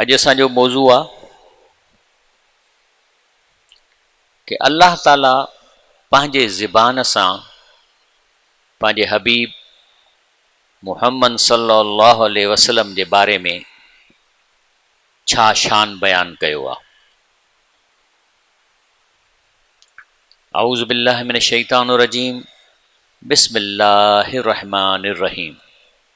اڄ اسان جو موضوع آ ڪي الله تعالي پنهنجي زبان سان پنهنجي حبيب محمد صلي الله عليه وسلم جي باري ۾ ڇا شان بيان ڪيو آ اعوذ بالله من الشيطان الرجيم بسم الله الرحمن الرحيم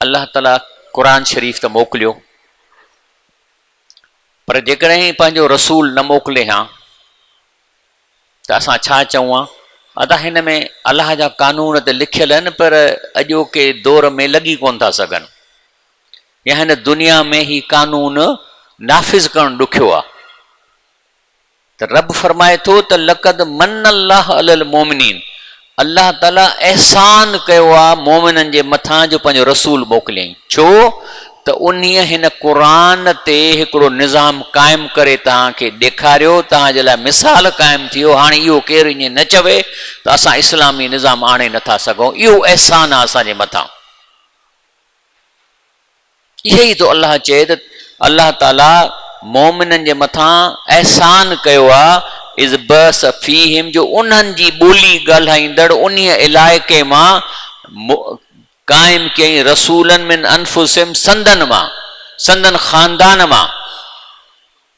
الله تعالي قرآن شريف ته موڪليو پر جيڪڏهن پنهنجو رسول نه موڪلي ها ته اسان ڇا چئون ها؟ ادا هن ۾ الله جا قانون ته لکيل آهن پر اڄوڪي دور ۾ لڳي ڪونه ٿا سگهن يا هن دنيا ۾ هي قانون نافذ ڪرڻ ڏکيو آهي. ته رب فرمائي ٿو ته لقد منّ الله علي المومنين الله تعالي احسان ڪيو آ مومنن جي مٿان جو پنهنجو رسول موڪليائين ڇو ته انهيء هن قرآن تي هڪڙو نظام قائم ڪري توهان کي ڏيکاريو توهان جي لاء مثال قائم ٿيو هاڻي اهو ڪير ائين نه چوي ته اسان اسلامي نظام آڻي نٿا سگهون اهو احسان آ اسان جي مٿان. اهو ئي ٿو الله چئي ته الله تعالي مؤمنن جي مٿان احسان ڪيو آهي اذ بعث فيهم جو انهن جي ٻولي ڳالهائيندڙ انهيء علائقي مان قائم ڪيائين رسولا من انفسهم سندن مان سندن خاندان مان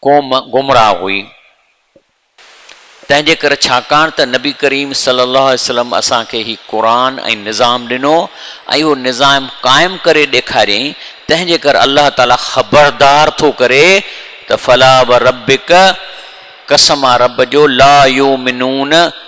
قوم گمراهه هئي، تنهنجي ڪري ڇاڪاڻ ته نبي ڪريم صلي الله عليه وسلم اسان کي هي قرآن ۽ نظام ڏنو ۽ اهو نظام قائم ڪري ڏيکاريائين، تنهنجي ڪري الله تعاليٰ خبردار ٿو ڪري ته فلا وربڪ قسم آ رب جو لا يؤمنون،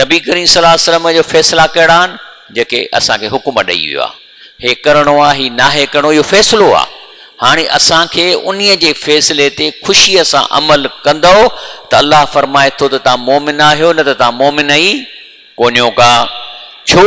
نبي ڪريم صلي الله عليه وسلم جا فيصلا ڪهڙا آهن؟ جيڪي اسان کي حڪم ڏئي ويو آهي. هي ڪرڻو آهي، هي ناهي ڪرڻو، اهو فيصلو آهي. هاڻي اسان کي انهي جي فيصلي تي خوشيء سان عمل ڪندؤ ته الله فرمائي ٿو ته توهان مؤمن آهيو نه ته توهان مؤمن ئي ڪونهيو ڪا. ڇو؟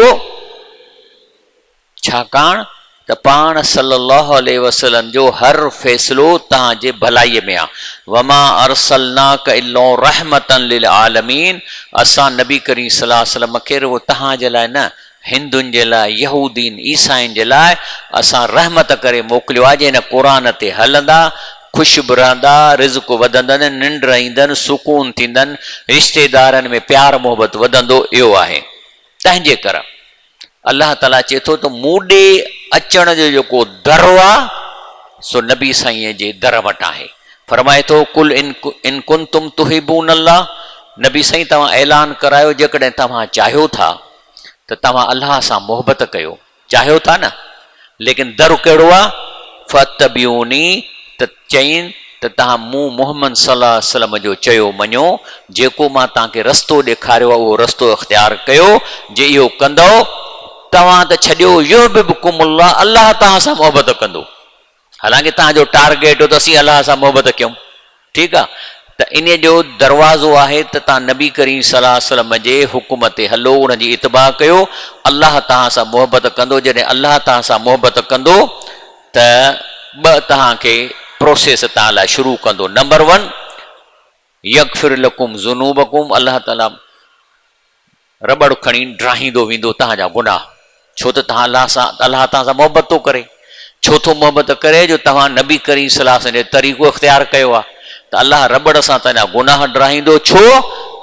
ڇاڪاڻ ته پاڻ صلّي اللّٰه عليه وسلّم جو هر فيصلو توهان جي ڀلائي ۾ آ. وما ارسلناک الا رحمة للعالمين اسان نبي ڪريم صلّي اللّٰه عليه وسلّم کي رڳو توهان جي لاء نه، هندن جي لاء، يهودين، عيسائين جي لاء اسان رحمت ڪري موڪليو آ جي هن قرآن تي هلندا، خوش به رهندا، رزق وڌندن، ننڊ ايندن، سڪون ٿيندن، رشتيدارن ۾ پيار محبت وڌندو اهو آهي. تنهنجي ڪر. الله تعالي چئي ٿو ته مون ڏي اچڻ جو جيڪو در آ سو نبي سائين جي در وٽ آهي فرمائي ٿو قل ان ڪنتم تحبون الله نبي سائين توهان اعلان ڪرايو جيڪڏهن توهان چاهيو ٿا ته توهان الله سان محبت ڪيو چاهيو ٿا نه ليڪن در ڪهڙو آ؟ فاتبعوني ته چئين ته تهان مون محمد صلي الله عليه وسلم جو چيو مڃو، جيڪو مان تهان کي رستو ڏيکاريو آ اهو رستو اختيار ڪيو، جي اهو ڪندؤ توهان ته ڇڏيو يحببڪم الله الله توهان سان محبت ڪندو، حالانڪه توهان جو ٽارگيٽ هو ته اسين الله سان محبت ڪيون. ٺيڪ آ ته انهي جو دروازو آهي ته تان نبي ڪريم صلي الله عليه وسلم جي حڪم تي هلو ان جي اتباع ڪيو الله تهان سان محبت ڪندو جڏهن الله تهان سان محبت ڪندو ته ٻه تهان کي پروسيس تان لاء شروع ڪندو نمبر ون يغفر لڪم ذنوبڪم الله تعالي رٻڙ کڻي ڊاهيندو ويندو توهان جا گناهه، ڇو ته توهان الله سان الله توهان سان محبت ٿو ڪري، ڇو ٿو محبت ڪري جو توهان نبي ڪريم صلي الله عليه وسلم جو طريقو اختيار ڪيو آهي ته الله رٻڙ سان توهان جا گناهه ڊاهيندو ڇو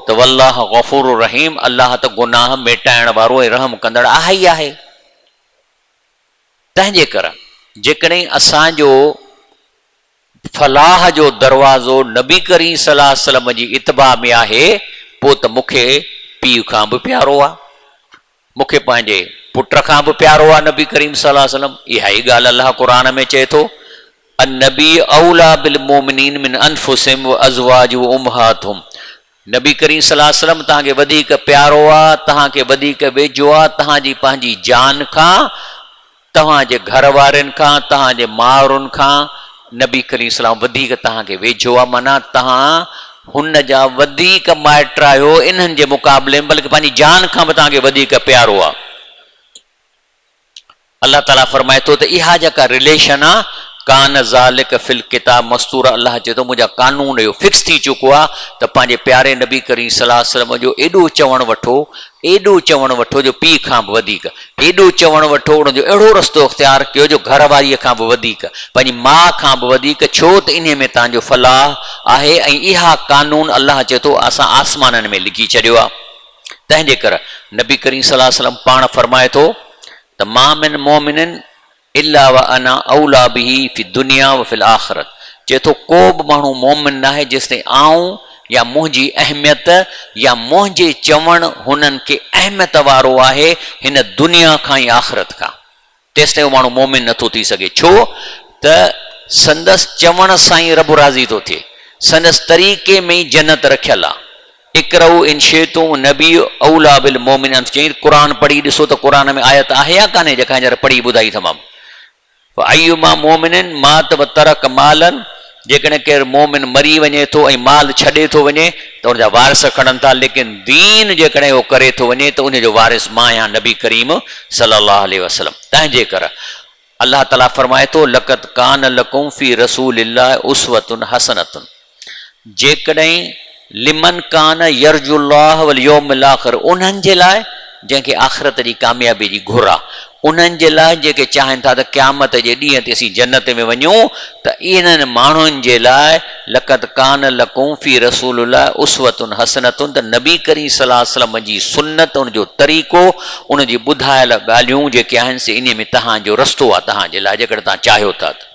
ته والله غفور رحيم الله ته گناهه ميٽائڻ وارو ۽ رحم ڪندڙ آهي ئي آهي تنهنجي ڪري جيڪڏهن اسان جو. فلاح جو دروازو نبي ڪريم صلي الله عليه وسلم جي اتباع ۾ آهي پوء ته مون کي پيء کان به پيارو آهي مون کي پنهنجي پٽ کان به پيارو آهي نبي ڪريم صلي الله عليه وسلم اها ئي ڳالهه الله قرآن ۾ چئي ٿو النبي اوليٰ بالمومنين من انفسهم وازواجه امهاتهم نبي ڪريم صلي الله عليه وسلم توهان کي وڌيڪ پيارو آ، توهان کي وڌيڪ ويجهو آ، توهان جي پنهنجي جان کان، توهان جي گهر وارين کان، توهان جي مائرن کان نبي ڪريم صلي الله عليه وسلم وڌيڪ توهان کي ويجهو آ، معنيٰ توهان هن جا وڌيڪ مائٽ آهيو انهن جي مقابلي ۾ بلڪ پنهنجي جان کان به توهان کي وڌيڪ پيارو آ. الله تعالي فرمائي ٿو ته اها جيڪا رليشن آ ڪان ذالڪ في الڪتاب مستورا الله چئي ٿو منهنجا قانون اهو فڪس ٿي چڪو آ ته پنهنجي پياري نبي ڪريم صلي الله عليه وسلم جو ايڏو چوڻ وٺو ايڏو چوڻ وٺو جو پيء کان به وڌيڪ ايڏو چوڻ وٺو ان جو اهڙو رستو اختيار ڪيو جو گهر واري کان به وڌيڪ پنهنجي ماء کان به وڌيڪ ڇو ته انهي ۾ توهان جو فلاح آهي ۽ اها قانون الله چئي ٿو اسان آسمانن ۾ لکي ڇڏيو آ. تنهن جي ڪر نبي ڪريم صلي الله عليه وسلم پاڻ فرمائي ٿو ته ما من مؤمن الا وانا اوليٰ به في الدنيا وفي الاخرة چئي ٿو ڪو به ماڻهو مؤمن ناهي جيستائين آئون يا منهنجي اهميت يا منهنجي چوڻ هنن کي اهميت وارو آهي هن دنيا کان ۽ آخرت کان. تيستائين اهو ماڻهو مؤمن نٿو ٿي سگهي، ڇو ته سندس چوڻ سان ئي رب راضي ٿو ٿئي، سندس طريقي ۾ ئي جنت رکيل آهي، اقرؤا ان شئتم النبي اوليٰ بالمؤمنين انت چيائين ته قرآن پڙهي ڏسو ته قرآن ۾ آيت آهي يا ڪانهي جيڪا هينئر پڙهي ٻڌائي ٿمانو، فايما مؤمن مات وترڪ مالا. جيڪڏهن ڪير مؤمن مري وڃي ٿو ۽ مال ڇڏي ٿو وڃي ته ان جا وارث کڻن ٿا ليڪن دين جيڪڏهن اهو ڪري ٿو وڃي ته انهي جو وارث مان آهيان نبي ڪريم صلي الله عليه وسلم تنهنجي ڪر الله تعالي فرمائي ٿو لقد ڪان لڪم في رسول الله اسوة حسنة جيڪڏهن لمن ڪان يرجو الله واليوم الاخر انهن جي لاء جنهن کي آخرت جي ڪاميابي جي گهر آ انهن جي لاء جيڪي چاهين ٿا ته قيامت جي ڏينهن تي اسين جنت ۾ وڃون ته انهن ماڻهن جي لاء لقد ڪان لڪم في رسول الله اسوة حسنة ته نبي ڪريم صلي الله عليه وسلم جي سنت ان جو طريقو ان جي ٻڌايل ڳالهيون جيڪي آهن سي انهي ۾ تهان جو رستو آ تهان جي لاء جيڪڏهن تهان چاهيو ٿا ته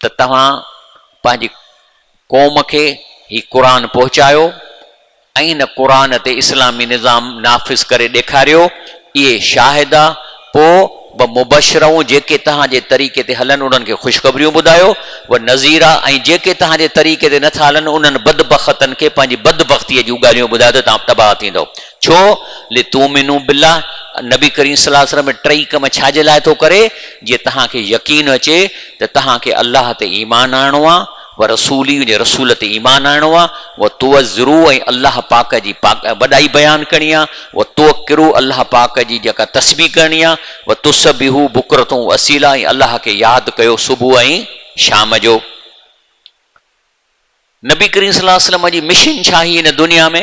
ته توهان پنهنجي قوم کي هي قرآن پهچايو ۽ هن قرآن تي اسلامي نظام نافذ ڪري ڏيکاريو، اهي شاهد آ، پوء و مبشرون جيڪي توهان جي طريقي تي هلن انهن کي خوشخبريون ٻڌايو، و نذيرا ۽ جيڪي توهان جي طريقي تي نه ٿا هلن انهن بدبختن کي پنهنجي بدبختيء جون ڳالهيون ٻڌايو ته توهان تباهه ٿيندؤ. ڇو؟ لتؤمنوا بالله، نبي ڪريم صلي الله عليه وسلم ٽئي ڪم ڇا جي لاء ٿو ڪري؟ جيئن توهان کي يقين اچي ته توهان کي الله تي ايمان آڻڻو آ و رسولي ان جي رسول تي ايمان آڻڻو آ و تعزرو ۽ الله پاڪ جي پاڪ وڏائي بيان ڪرڻي آ و توقرو الله پاڪ جي جيڪا تسبيح ڪرڻي آ و تسبحو بڪرة و اصيلا ۽ الله کي ياد ڪيو صبح ۽ شام جو نبي ڪريم صلي الله عليه وسلم جي مشن ڇا هئي هن دنيا ۾؟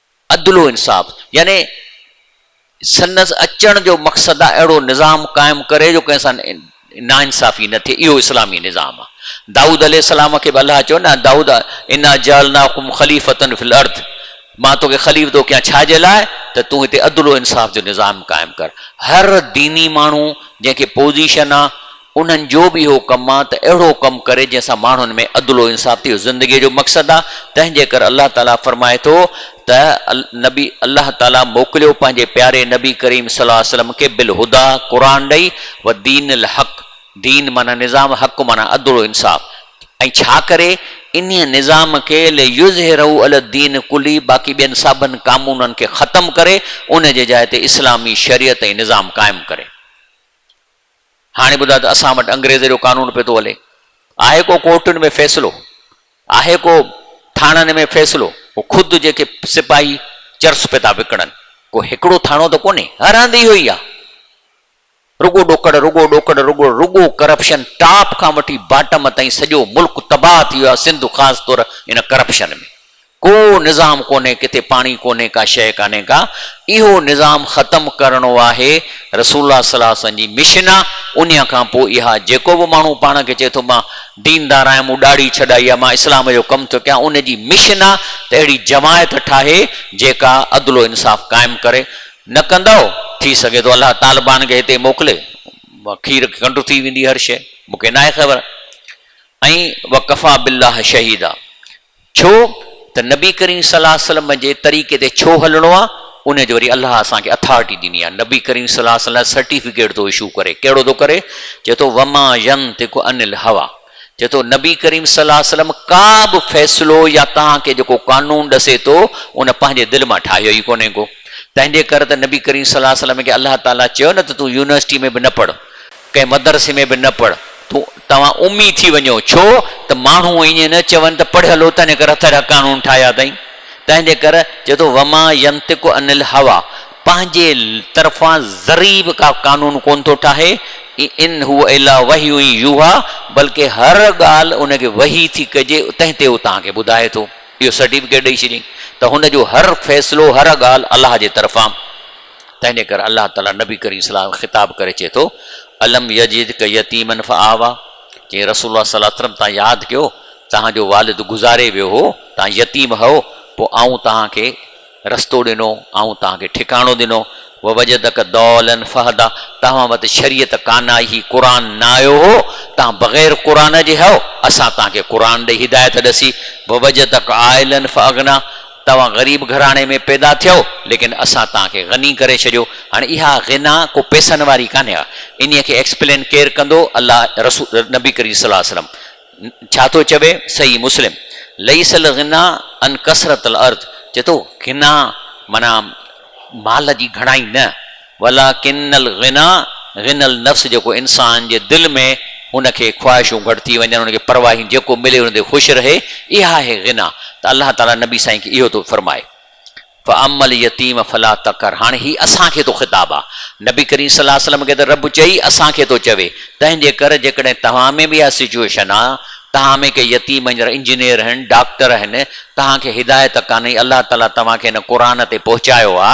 عدل و انصاف يعني سندس اچڻ جو مقصد آ اهڙو نظام قائم ڪري جو ڪنهن سان ناانصافي نه ٿئي اهو اسلامي نظام آ دائود عليه السلام کي به الله چيو نه دائود انا جعلناکم خليفة في الارض مان توکي خليفتو ڪيان ڇا جي لاء ته تون هتي عدل و انصاف جو نظام قائم ڪر هر ديني ماڻهو جنهن کي پوزيشن آ انهن جو به اهو ڪم آ ته اهڙو ڪم ڪري جنهن سان ماڻهن ۾ عدل و انصاف ٿئي اهو زندگيء جو مقصد آ تنهن جي ڪري الله تعاليٰ فرمائي ٿو ته نبي الله تعاليٰ موڪليو پنهنجي پياري نبي ڪريم صلي الله عليه وسلم کي بالهديٰ قرآن ڏئي و دين الحق دين معنيٰ نظام حق معنيٰ عدل و انصاف ۽ ڇا ڪري انهيء نظام کي ليظهره علي الدين ڪلي باقي ٻين سڀن ڪامونن کي ختم ڪري ان جي جاء تي اسلامي شريعت ۽ نظام قائم ڪري. هاڻي ٻڌاء ته اسان وٽ انگريز جو قانون پيو ٿو هلي. آهي ڪو ڪورٽن ۾ فيصلو؟ آهي ڪو ٿاڻن ۾ فيصلو؟ هو خود جيڪي سپاهي چرس پيو ٿا وڪڻن. ڪو هڪڙو ٿاڻو ته ڪونهي. هر هنڌ اهو ئي آهي. رڳو ڏوڪڙ، رڳو ڏوڪڙ، رڳو رڳو ڪرپشن ٽاپ کان وٺي باٽم تائين سڄو ملڪ تباهه ٿي ويو آهي سنڌ خاص طور ان ڪرپشن ۾. ڪو نظام ڪونهي ڪٿي پاڻي ڪونهي ڪا شيء ڪانهي ڪا اهو نظام ختم ڪرڻو آهي رسول الله صلي الله عليه وسلم جي مشن آ انهيء کان پوء اها جيڪو به ماڻهو پاڻ کي چئي ٿو مان ديندار آهيان مون ڏاڙهي ڇڏائي آ مان اسلام جو ڪم ٿو ڪيان ان جي مشن آ ته اهڙي جماعت ٺاهي جيڪا عدل و انصاف قائم ڪري نه ڪندؤ ٿي سگهي ٿو الله طالبان کي هتي موڪلي کير کنڊ ٿي ويندي هر شيء مون کي ناهي خبر ۽ وڪفا بالله شهيدا ڇو ته نبي ڪريم صلي الله عليه وسلم جي طريقي تي ڇو هلڻو آهي ان جو وري الله اسان کي اٿارٽي ڏني آهي نبي ڪريم صلي الله عليه وسلم لاء سرٽيفڪيٽ ٿو اشو ڪري ڪهڙو ٿو ڪري چئي ٿو وما ينطق عن الهويٰ چئي ٿو نبي ڪريم صلي الله عليه وسلم ڪا به فيصلو يا توهان کي جيڪو قانون ڏسي ٿو ان پنهنجي دل مان ٺاهيو ئي ڪونهي ڪو تنهنجي ڪر ته نبي ڪريم صلي الله عليه وسلم کي الله تعالي چيو نه ته تون يونيورسٽي ۾ به نه پڙهه ڪنهن مدرسي ۾ به نه پڙهه تون، توهان امي ٿي وڃو، ڇو ته ماڻهو ائين نه چون ته پڙهيل هو تنهن ڪري هٿ اهڙا قانون ٺاهيا اٿائين، تنهنجي ڪري چئي ٿو وما ينطق عن الهويٰ پنهنجي طرفان ذري به ڪا قانون ڪونه ٿو ٺاهي، ان هو الا وحي يوحيٰ بلڪه هر ڳالهه ان کي وحي ٿي ڪجي تنهن تي هو توهان کي ٻڌائي ٿو، اهو سرٽيفڪيٽ ڏئي ڇڏيائين ته هن جو هر فيصلو هر ڳالهه الله جي طرفان. تنهنجي ڪري الله تعالي نبي ڪريم صلي الله عليه وسلم کي خطاب ڪري چئي ٿو، الم يجدک يتيما فآويٰ، چيائين رسول الله صلي الله عليه وسلم توهان ياد ڪيو توهان جو والد گذاري ويو هو، توهان يتيم هئو، پوء آئون توهان کي رستو ڏنو، آئون توهان کي ٺڪاڻو ڏنو، ووجدک ضالا فهديٰ، توهان وٽ شريعت ڪانه آئي هئي، قرآن نه آيو هو، توهان بغير قرآن جي هئو، اسان توهان کي قرآن ڏئي هدايت ڏسي، ووجدک عائلا فأغنيٰ، توهان غريب گهراڻي ۾ پيدا ٿيو ليڪن اسان توهان کي غني ڪري ڇڏيو هاڻ اها غنا ڪو پيسن واري ڪانهي ها انهي کي ايڪسپلين ڪير ڪندو الله رسول نبي ڪريم صلي وسلم ڇا ٿو چوي صحيح مسلم ليس الغنا ان ڪثرت الارض چي ٿو غنا معنيٰ مال جي گهڻائي نه ولٰڪن الغنٰي غنٰي النفس جيڪو انسان جي دل ۾ ان کي خواهشون گهٽ ٿي وڃن، ان کي پرواهه ئي نه جيڪو ملي ان تي خوش رهي اها آهي غنٰي ته الله تعالٰي نبي سائين کي اهو ٿو فرمائي فاما اليتيم فلا تقهر هاڻي هي اسان کي ٿو خطاب آ نبي ڪريم صلي الله وسلم کي ته رب چئي اسان کي ٿو چوي تنهنجي ڪر جيڪڏهن توهان ۾ به اها سچوئيشن آ توهان ۾ ڪي يتيم هينئر انجنيئر هين ڊاڪٽر هين توهان کي هدايت ڪانهي الله تعالٰي توهان کي هن قرآن تي پهچايو آ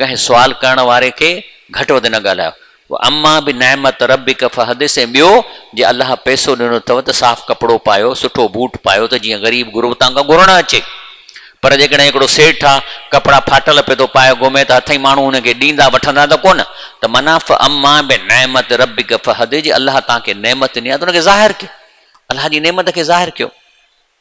ڪنهن سوال ڪرڻ واري کي گهٽ وڌ نه ڳالهايو. واما بنعمت ربک فحدث ۽ ٻيو جي الله پئسو ڏنو اٿو ته صاف ڪپڙو پايو، سٺو بوٽ پايو ته جيئن غريب غربتان کان گهرڻ اچي. پر جيڪڏهن هڪڙو سيٺ آ ڪپڙا ڦاٽل پئي ٿو پائي گهمي ته هٿئين ماڻهو هن کي ڏيندا وٺندا ته ڪونه ته معنيٰ فاما بنعمت ربک فحدث جي الله توهان کي نعمت ڏني آ ته ان کي ظاهر ڪيو. الله جي نعمت کي ظاهر ڪيو.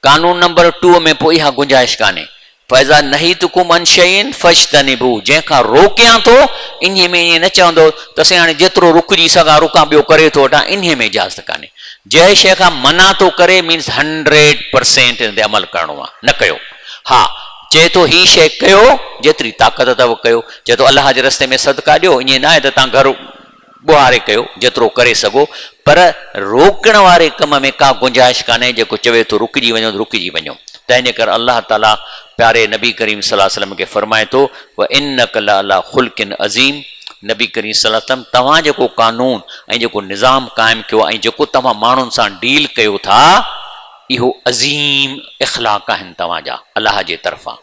قانون نمبر ٽو ۾ پوء اها گنجائش ڪانهي، فاذا نهيتڪم عن شيء فاجتنبوه، جنهن کان روڪيان ٿو، انهي ۾ ائين نه چوندو ته سائين هاڻي جيترو رڪجي سگهان رڪان ٻيو ڪري ٿو وٺان، انهي ۾ اجازت ڪانهي. جنهن شيء کان منع ٿو ڪري مينس هنڊريڊ پرسينٽ ان تي عمل ڪرڻو آهي، نه ڪيو. ها چئي ٿو هي شيء ڪيو، جيتري طاقت اٿو ڪيو، چئي ٿو الله جي رستي ۾ صدقا ڏيو، ائين ناهي ته تان گهر. ٻوهاري ڪيو جيترو ڪري سگهو پر روڪڻ واري ڪم ۾ ڪا گنجائش ڪانهي جيڪو چوي ٿو رڪجي وڃو ته رڪجي وڃو تنهن جي ڪري الله تعالي پياري نبي ڪريم صلي وسلم کي فرمائي ٿو وانڪ لعلي خلق عظيم نبي ڪريم صلي وسلم توهان جيڪو قانون ۽ جيڪو نظام قائم ڪيو ۽ جيڪو توهان ماڻهن سان ڊيل ڪيو ٿا اهو عظيم اخلاق آهن توهان جا الله جي طرفان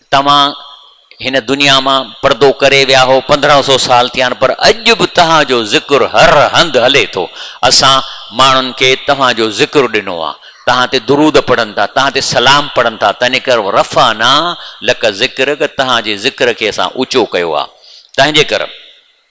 توهان هن دنيا مان پردو ڪري ويا هو، پندرهن سو سال ٿيا آهن، پر اڄ به توهان جو ذڪر هر هنڌ هلي ٿو. اسان ماڻهن کي توهان جو ذڪر ڏنو آهي. توهان تي درود پڙهن ٿا، توهان تي سلام پڙهن ٿا، تنهنڪر ورفعنا لڪ ذڪرڪ، توهان جي ذڪر کي اسان اوچو ڪيو آهي. تنهنجيڪر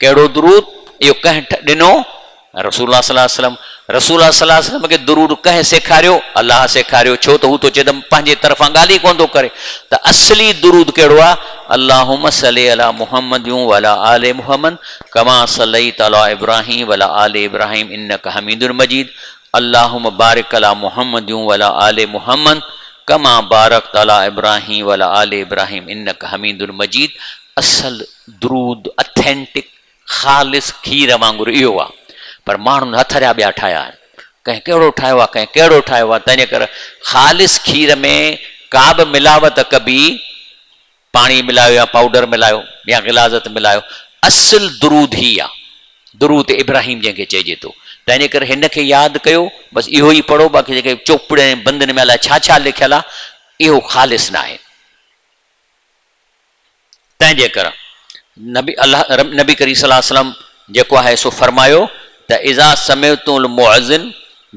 ڪهڙو درود؟ اهو ڪنهن ڏنو؟ رسول الله صلي الله عليه وسلم، رسول الله صلي الله عليه وسلم کي درود ڪنهن سيکاريو؟ الله سيکاريو، ڇو ته هو تو چيدم پنهنجي طرفان ڳالهه ئي ڪونه ٿو ڪري ته اصلي درود ڪهڙو آهي، اللهم صل علي محمد وعلي آل محمد ڪما صليت علي ابراهيم وعلي آل ابراهيم انک حميد مجيد، اللهم بارڪ علي محمد وعلي آل محمد ڪما بارڪت علي ابراهيم وعلي آل ابراهيم انک حميد مجيد، اصل درود، Authentic، خالص کير وانگر اهو آ پر ماڻهن هٿ جا ٻيا ٺاهيا آهن. ڪنهن ڪهڙو ٺاهيو آ ڪنهن ڪهڙو ٺاهيو آ تنهنجي ڪري خالص کير ۾ ڪابه ملاوت ڪبي پاڻي ملايو يا پائوڊر ملايو يا غلاظت ملايو اصل درود هي آ درود ابراهيم جنهن کي چئجي ٿو تنهنجي ڪري هن کي ياد ڪيو بس اهو ئي پڙهو باقي جيڪي چوپڙين بندن ۾ الاء ڇا ڇا لکيل آ اهو خالص ناهي. تنهنجي ڪري نبي الله نبي ڪريم صلي الله عليه وسلم جيڪو آهي سو فرمايو ته اذا سمعتم المؤذن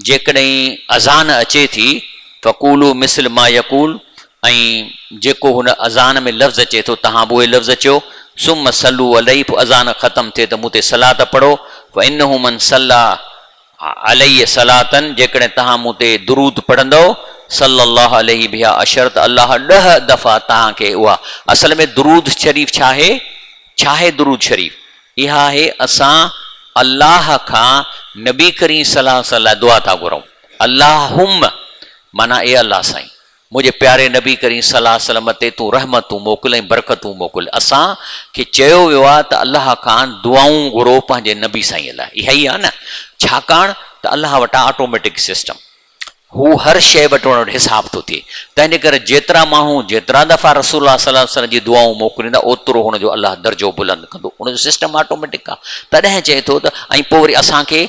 جيڪڏهن اذان اچي ٿي فقولوا مثل ما يقول ۽ جيڪو هن اذان ۾ لفظ اچي ٿو تهان به اهي لفظ چئو ثم صلوا عليه پوء اذان ختم ٿئي ته مون تي صلات پڙهو فانه من صلي عليه صلاة جيڪڏهن توهان مون تي درود پڙهندؤ صلّي الله عليه بها عشر ته الله ڏهه دفعا توهان کي اها، اصل ۾ درود شريف ڇا آهي؟ ڇا آهي درود شريف؟ اها آهي اسان الله کان نبي ڪريم صلّي الله عليه وسلّم لاء دعا ٿا گهرون، اللّٰهمّ معنيٰ اي الله سائين! منهنجي پياري نبي ڪريم صلي الله عليه وسلم تي تون رحمتون موڪل ۽ برڪتون موڪل اسان کي چيو ويو آهي ته الله کان دعائون گهرو پنهنجي نبي سائين لاء اها ئي آهي نه ڇاڪاڻ ته الله وٽان آٽوميٽڪ سسٽم هو هر شيء وٽ ان وٽ حساب ٿو ٿئي تنهنجي ڪري جيترا ماڻهو جيترا دفعا رسول الله صلي الله عليه وسلم جي دعائون موڪليندا اوترو هن جو الله درجو بلند ڪندو ان جو سسٽم آٽوميٽڪ آهي تڏهن چئي ٿو ته ۽ پوء وري اسان کي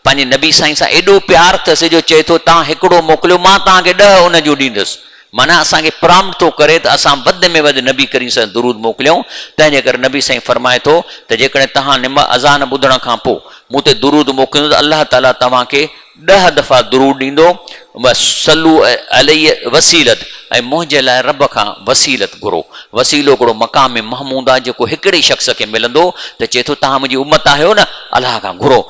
پنهنجي نبي سائين سان ايڏو پيار اٿس جو چئي ٿو توهان هڪڙو موڪليو مان توهان کي ڏهه ان جون ڏيندس. معنيٰ اسان کي پرامٽ ٿو ڪري ته اسان وڌ ۾ وڌ نبي ڪريم صلي درود موڪليون تنهن جي ڪري نبي سائين فرمائي ٿو ته جيڪڏهن توهان نم اذان ٻڌڻ کان پوء مون تي درود موڪليندو ته الله تعالي توهان کي ڏهه دفعا درود ڏيندو بس صلو علي وسيلت ۽ منهنجي لاء رب کان وسيلت گهرو وسيلو هڪڙو مقام محمود آهي جيڪو هڪڙي شخص کي ملندو ته چئي ٿو توهان منهنجي امت آهيو نه الله کان گهرو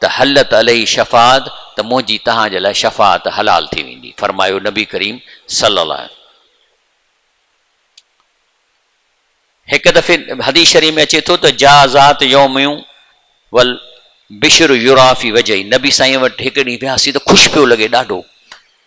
ته حلت عليه شفاعت ته منهنجي توهان جي لاء شفاعت حلال ٿي ويندي فرمايو نبي ڪريم صلي الله عليه هڪ دفعي حديث شريف ۾ اچي ٿو ته جا ذات يوميون ول بشر يرافي وجهي نبي سائين وٽ هڪ ڏينهن وياسي ته خوش پيو لڳي ڏاڍو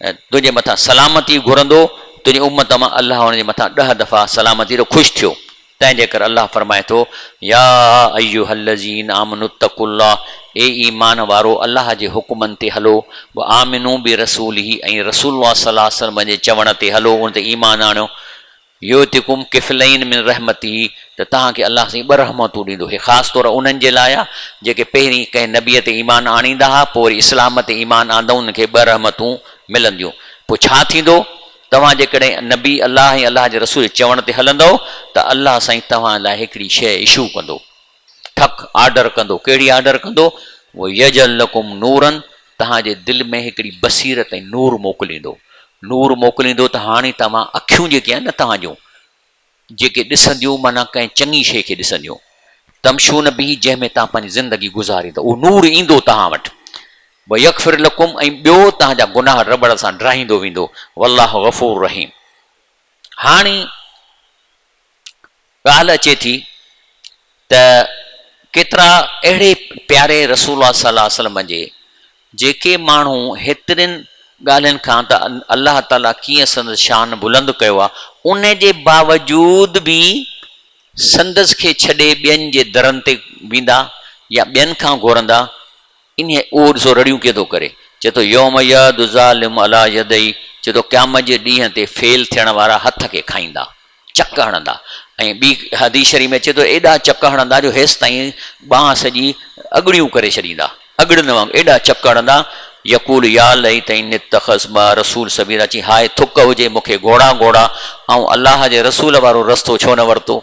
۽ تنهنجي مٿان سلامتي گهرندو، تنهنجي امت مان الله ان جي مٿان ڏهه دفعا سلامتيء تي خوش ٿيو، تنهنجي ڪري الله فرمائي ٿو، يا ايها الذين آمنوا اتقوا الله اي ايمان وارؤ الله جي حڪمن تي هلو، وآمنوا برسوله ۽ رسول الله صلّي الله عليه وسلّم جي چوڻ تي هلو، ان تي ايمان آڻيو، يؤتڪم ڪفلين من رحمته ته توهان کي الله سائين ٻه رحمتون ڏيندو. هي خاص طور انهن جي لاء آهي جيڪي پهرين ڪنهن نبيء تي ايمان آڻيندا ها پوء وري اسلام تي ايمان آندؤن کي ٻه رحمتون ملنديون. پوء ڇا ٿيندو؟ توهان جيڪڏهن نبي الله ۽ الله جي رسول جي چوڻ تي هلندؤ ته الله سائين توهان لاء هڪڙي شيء ايشو ڪندو. ٺڪ آرڊر ڪندو، ڪهڙي آرڊر ڪندو؟ ويجعل لڪم نورا توهان جي دل ۾ هڪڙي بصيرت ۽ نور موڪليندو، نور موڪليندو ته هاڻي توهان اکيون جيڪي آهن نه توهان جون جيڪي ڏسنديون معنيٰ ڪنهن چڱي شيء کي ڏسنديون تمشون به جنهن ۾ توهان پنهنجي زندگي گذاريندا اهو نور ايندو توهان وٽ ويغفر لڪم ۽ ٻيو توهان جا گناهه رٻڙ سان ڊاهيندو ويندو والله غفور رحيم هاڻي ڳالهه اچي ٿي ته ڪيترا اهڙي پياري رسول الله صلي الله عليه وسلم جي جيڪي ماڻهو هيترين ڳالهين کان ته الله تعالي ڪيئن سندس شان بلند ڪيو آهي ان جي باوجود به سندس کي ڇڏي ٻين جي درن تي ويندا يا ٻين کان گهرندا انهيء اهو ڏسو رڙيون ڪيئن ٿو ڪري. چئي ٿو يوم يعض الظالم عليٰ يديه چئي ٿو قيامت جي ڏينهن تي فيل ٿيڻ وارا هٿ کي کائيندا، چڪ هڻندا ۽ ٻي حديث شريف ۾ اچي ٿو ايڏا چڪ هڻندا جو هيس تائين ٻانهن سڄي اڳڙيون ڪري ڇڏيندا، اڳڙين وانگر ايڏا چڪ هڻندا، يقول يا ليتني اتخذت مع الرسول سبيلا چئي هاء ٿڪ هجي مون کي گهوڙا گهوڙا آئون الله جي رسول وارو رستو ڇو نه ورتو.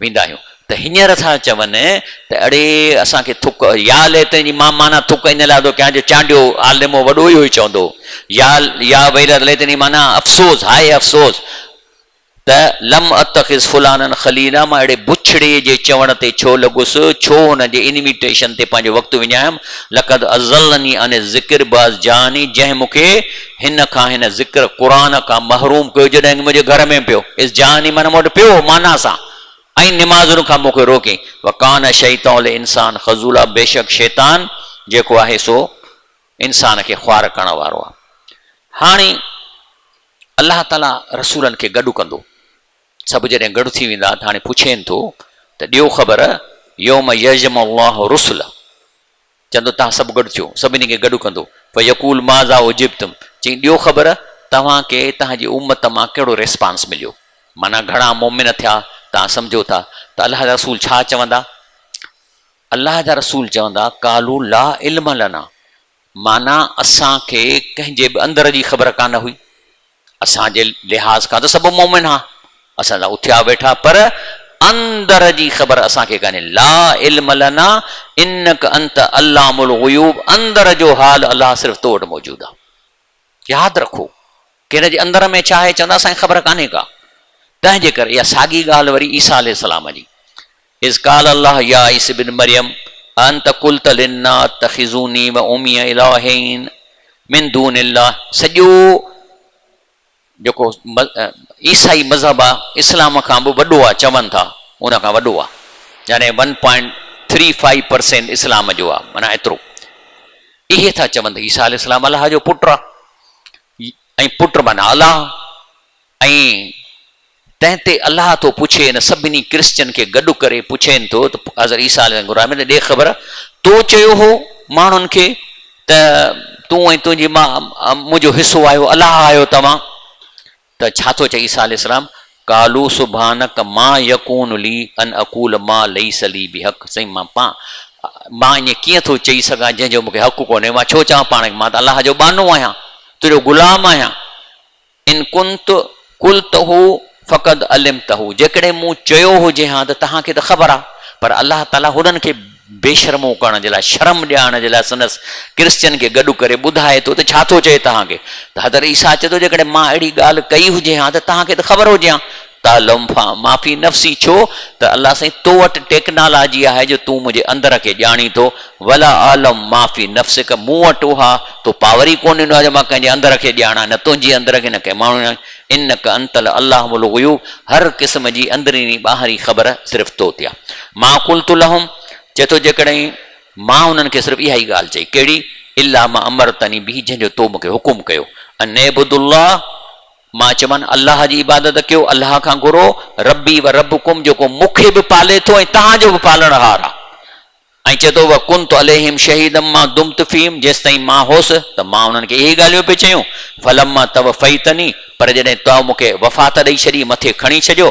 ويندا آهيون ته هينئر ٿا چون ته اڙي اسان کي ٿڪ يا ليتين جي مان معنيٰ ٿڪ ان لاء ٿو ڪيان جو چانڊيو عالمو وڏو اهو ئي چوندو يا يا ويلت ليتين جي معنيٰ افسوس هاء افسوس ته لم اتخذ فلانا خليلا مان اهڙي بڇڙي جي چوڻ تي ڇو لڳس ڇو هن جي انويٽيشن تي پنهنجو وقت وڃايم لقد اضلني عن الذڪر بعض جاني جنهن مون کي هن کان هن ذڪر قرآن کان محروم ڪيو جڏهن هن منهنجي گهر ۾ پيو، اذ جاءني معنيٰ مون وٽ پيو هو معنيٰ سان، ۽ نمازن کان مون کي روڪيائين، وڪان الشيطان للانسان خذولا بيشڪ شيطان جيڪو آهي سو انسان کي خوار ڪرڻ وارو آهي. هاڻي الله تعاليٰ رسولن کي گڏ ڪندو. سڀ جڏهن گڏ ٿي ويندا ته هاڻي پڇين ٿو ته ڏيو خبر يوم يجمع الله الرسل چوندو، توهان سڀ گڏ ٿيو، سڀني کي گڏ ڪندو، فيقول ماذا اجبتم، چئين، ڏيو خبر، توهان کي توهان جي امت مان ڪهڙو ريسپانس مليو، معنيٰ گهڻا مؤمن ٿيا، توهان سمجهو ٿا ته الله جا رسول ڇا چوندا؟ الله جا رسول چوندا، قالو لا علم لنا، معنيٰ اسان کي ڪنهن جي به اندر جي خبر ڪانه هئي. اسان جي لحاظ کان ته سڀ مؤمن ها، اسان سان اٿيا ويٺا، پر اندر جي خبر اسان کي ڪانهي، لا علم لنا انک انت علام الغيوب، اندر جو حال الله صرف تو وٽ موجود آ، ياد رکو ڪنهن جي اندر ۾ ڇا آهي چوندا اسان کي خبر ڪانهي ڪا، تنهن جي ڪري اها ساڳي ڳالهه وري عيسيٰ عليه السلام جي. اذ قال الله يا عيسي ابن مريم اانت قلت للنا اتخذوني و امي الهين من دون الله سڄو جيڪو عيسائي مذهب آ اسلام کان به وڏو آ چون ٿا ان کان وڏو آ يعني one point three five percent اسلام جو آ معنيٰ ايترو اهي ٿا چون ته عيسيٰ عليه السلام الله جو پٽ آ ۽ پٽ معنيٰ الله ۽ تنهن تي الله ٿو پڇي ان سڀني ڪرسچن کي گڏ ڪري پڇين ٿو ته حضرت عيسيٰ عليه السلام کي ڏي خبر تو چيو هو ماڻهن کي ته تون ۽ تنهنجي ماء منهنجو حصو آهيو الله آهيو توهان ته ڇا ٿو چئي عيسيٰ عليه السلام قالوا سبحانک ما يڪون لي ان اقول ما ليس لي بحق سائين مان پا مان ائين ڪيئن ٿو چئي سگهان جنهن جو مون کي حق ڪونهي مان ڇو چوان پاڻ کي مان ته الله جو ٻانهو آهيان تنهنجو غلام آهيان ان ڪنت قلته فقد علمته جيڪڏهن مون چيو هجي ها ته توهان کي ته خبر آهي. پر الله تعاليٰ هنن کي بيشرمو ڪرڻ جي لاء، شرم ڏيارڻ جي لاء سندس ڪرسچين کي گڏ ڪري ٻڌائي ٿو ته ڇا ٿو چئي توهان کي؟ ته حضرت عيسيٰ چئي ٿو جيڪڏهن مان اهڙي ڳالهه ڪئي هجي ها ته توهان کي ته خبر هجي ها. تعلم فان ما في نفسي ڇو ته الله سائين تو وٽ ٽيڪنالاجي آهي جو تون منهنجي اندر کي ڄاڻين ٿو ولا اعلم ما في نفسک مون وٽ اها تو پاور ئي ڪونه ڏنو آهي جو مان ڪنهن جي اندر کي ڄاڻان نه تنهنجي اندر کي نه ڪنهن ماڻهو جي انک انت العلام الغيوب هر قسم جي اندريني ٻاهرين خبر صرف تو تي آهي ما قلت لهم چئي ٿو جيڪڏهن مان انهن کي صرف اها ئي ڳالهه چئي ڪهڙي الا ما امرتني به جنهن جو تو مون کي حڪم ڪيو ان اعبدوا الله مان چيومان، الله جي عبادت ڪيو، الله کان گهرو، ربي و ربڪم جيڪو مون کي به پالي ٿو ۽ توهان جو به پالڻهار آ. ۽ چئي ٿو، و ڪنت عليهم شهيدا ما دمت فيهم جيستائين مان هوس ته مان انهن کي اهي ڳالهيون پئي چيون، فلما توفيتني پر جڏهن تو مون کي وفات ڏئي ڇڏي، مٿي کڻي ڇڏيو،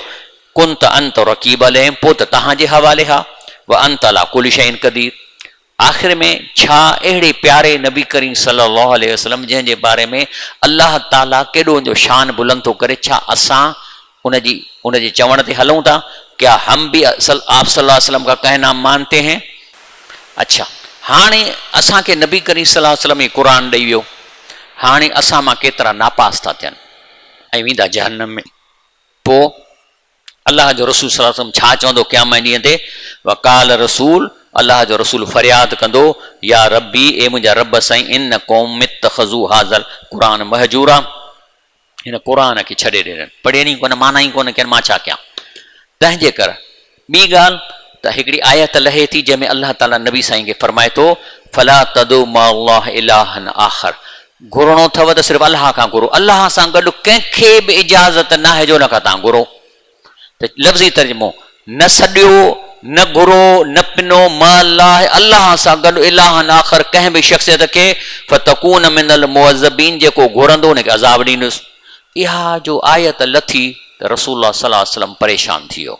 ڪنت انت رقيب عليهم پوء ته توهان جي حوالي آ، و انت علي ڪل شيء قدير آخر ۾ ڇا اهڙي پياري نبي ڪريم صلي الله عليه وسلم جنهن جي باري ۾ الله تعاليٰ ڪيڏو ان جو شان بلند ٿو ڪري ڇا اسان ان جي ان جي چوڻ تي هلون ٿا ڪيا هم به آپ صلي الله عليه وسلم ڪا ڪهنا مانتي هين اڇا هاڻي اسان کي نبي ڪريم صلي الله عليه وسلم ئي قرآن ڏئي ويو هاڻي اسان مان ڪيترا ناپاس ٿا ٿين ۽ ويندا جهنم ۾ پوء الله جو رسول صلّي الله عليه وسلّم ڇا چوندو قيامت جي ڏينهن تي؟ وقال رسول، الله جو رسول فرياد ڪندو، يا ربّي، اي منهنجا ربّ سائين ان قوم اتّخذو هذا القرآن مهجورا، هن قرآن کي ڇڏي ڏنن، پڙهين ئي ڪونه، معنيٰ ئي ڪونه ڪين، مان ڇا ڪيان؟ تنهنجي ڪر ٻي ڳالهه ته هڪڙي آيت لهي ٿي جنهن ۾ الله تعاليٰ نبي سائين کي فرمائي ٿو، فلا تدعو مع الله الٰها آخر، گهرڻو اٿو ته صرف الله کان گهرو، الله سان گڏ ڪنهن کي به اجازت ناهي جو ان کان توهان گهرو ته لفظي ترجمو، نه سڏيو، نه گهرو، نه پنو مع الله، الله سان گڏ الٰهن آخر ڪنهن به شخصيت کي فتڪون من المعذبين جيڪو گهرندو ان کي عذاب ڏيندس. اها جو آيت لٿي ته رسول الله صلي الله عليه وسلم پريشان ٿي ويو.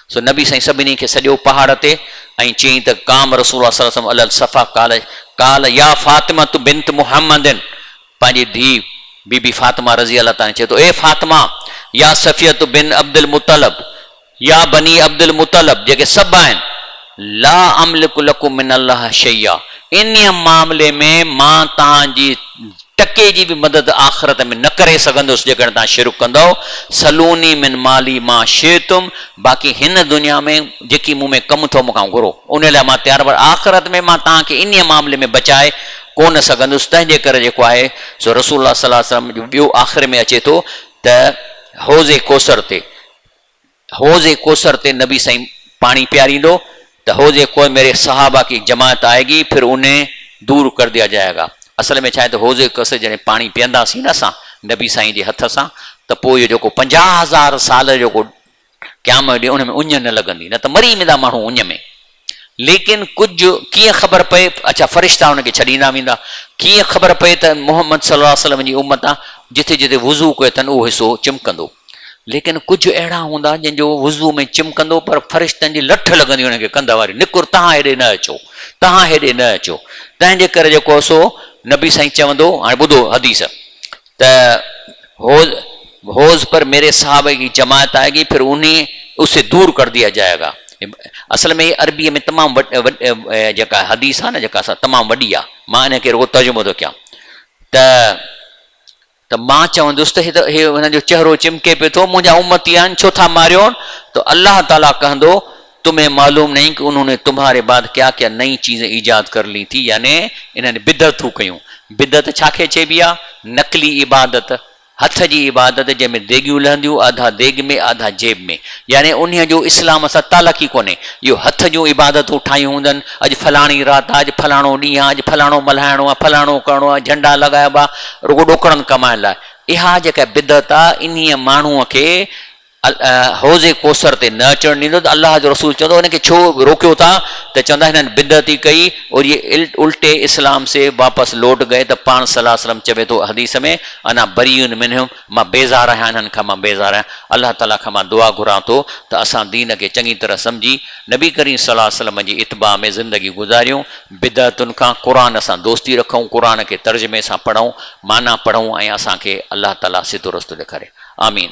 سو نبي سائين سڀني کي سڏيو پهاڙ تي ۽ چيائين ته قام رسول الله صلي وسلم علي الصفا قال قال يا فاطمة بنت محمد پنهنجي ڌي بي بي فاطمه رضي الله تعالٰي عنها چئي ٿو اي فاطمه يا صفيه بن عبدالمطلب يا بني عبدالمطلب جيڪي سڀ آهن لا املڪ لڪم من الله شيئا انهيء معاملي ۾ مان توهان جي ٽڪي جي به مدد آخرت ۾ نه ڪري سگهندس جيڪڏهن توهان شرڪ ڪندؤ، سلوني من مالي ما شئتم باقي هن دنيا ۾ جيڪي مون ۾ ڪم اٿئو مون کان گهرو انهي لاء مان تيار پر آخرت ۾ مان توهان کي انهي معاملي ۾ بچائي ڪو نه سگهندس تنهنجي ڪري جيڪو آهي سو رسول الله صلي الله عليه وسلم جو ٻيو آخر ۾ اچي ٿو ته حوض ڪوثر تي حوض ڪوثر تي نبي سائين پاڻي پياريندو ته حوض ڪوء ميري صحابه ڪي جماعت آئي گي پھر انھين دور ڪر ديا جايا گا اصل ۾ ڇاھي ته حوض ڪوثر جڏھن پاڻي پيئنداسين نه اسان نبي سائين جي ھٿ سان ته پوء اھو جيڪو پنجاھ ھزار سال جو جيڪو قيام جو ڏينھن ان ۾ اڃ نه لڳندي نه ته مري ويندا ماڻھو اڃ ۾. ليڪن ڪجهه ڪيئن خبر پئي، اڇا فرشتا ان کي ڇڏيندا ويندا، ڪيئن خبر پئي ته محمد صلي الله عليه وسلم جي امت آ، جتي جتي وضو ڪيو اٿن اهو حصو چمڪندو. ليڪن ڪجهه اهڙا هوندا جن جو وضو ۾ چمڪندو پر فرشتن جي لٺ لڳندي انهن کي ڪنڌ واري نڪر تهان هيڏي نه اچو، تهان هيڏي نه اچو، تنهنجي ڪري جيڪو سو نبي سائين چوندو، هاڻي ٻڌو حديث، ته هوز هوز پر ميري صاحب ڪي جماعت آئي گي پھر انھي اسي دور ڪر ديا جائي گا اصل ۾ هي عربي ۾ تمام جيڪا حديث آ نه جيڪا سا تمام وڏي آ مان انھي کي رڳو ترجمو ٿو ڪيان ته ته مان چوندس ته هي هن جو چهرو چمڪي پيو ٿو منھنجا امتي آهن ڇو ٿا ماريون ته الله تعالي ڪهندو تمھين معلوم نھين ڪي انھون ني تمھاري بعد ڪيا ڪيا نئين چيزين ايجاد ڪر لي ٿي يعني انھن بدعتون ڪيون بدعت ڇا کي چئبي آ نقلي عبادت ھٿ جي عبادت جنھن ۾ ديڳيون لھنديون آڌا ديڳ ۾ آڌا جيب ۾ يعني انھيء جو اسلام سان تعلق ئي ڪونھي اھو ھٿ جون عبادتون ٺاھيون ھوندن اڄ فلاڻي رات آ اڄ فلاڻو ڏينھن آ اڄ فلاڻو ملھائڻو آ فلاڻو ڪرڻو آ جھنڊا لڳائبا رڳو ڏوڪڙن ڪمائڻ لاء اھا جيڪا بدعت آ انھيء ماڻھوء کي حوض ڪوثر تي نه اچڻ ڏيندو ته الله جو رسول چوندو هنن کي ڇو روڪيو ٿا ته چوندا هنن بدعت ئي ڪئي اور يي الٽي اسلام سي واپس لوٽ گئي ته پاڻ صلي الله عليه وسلم چوي ٿو حديث ۾ انا بريء منهم مان بيزار آهيان انهن کان مان بيزار آهيان الله تعالي کان مان دعا گهران ٿو ته اسان دين کي چڱي طرح سمجهي نبي ڪريم صلي الله عليه وسلم جي اتباع ۾ زندگي گذاريون بدعتن کان قرآن سان دوستي رکون قرآن کي ترجمي سان پڙهون معنيٰ پڙهون ۽ اسان کي الله تعالي سڌو رستو ڏيکاري آمين.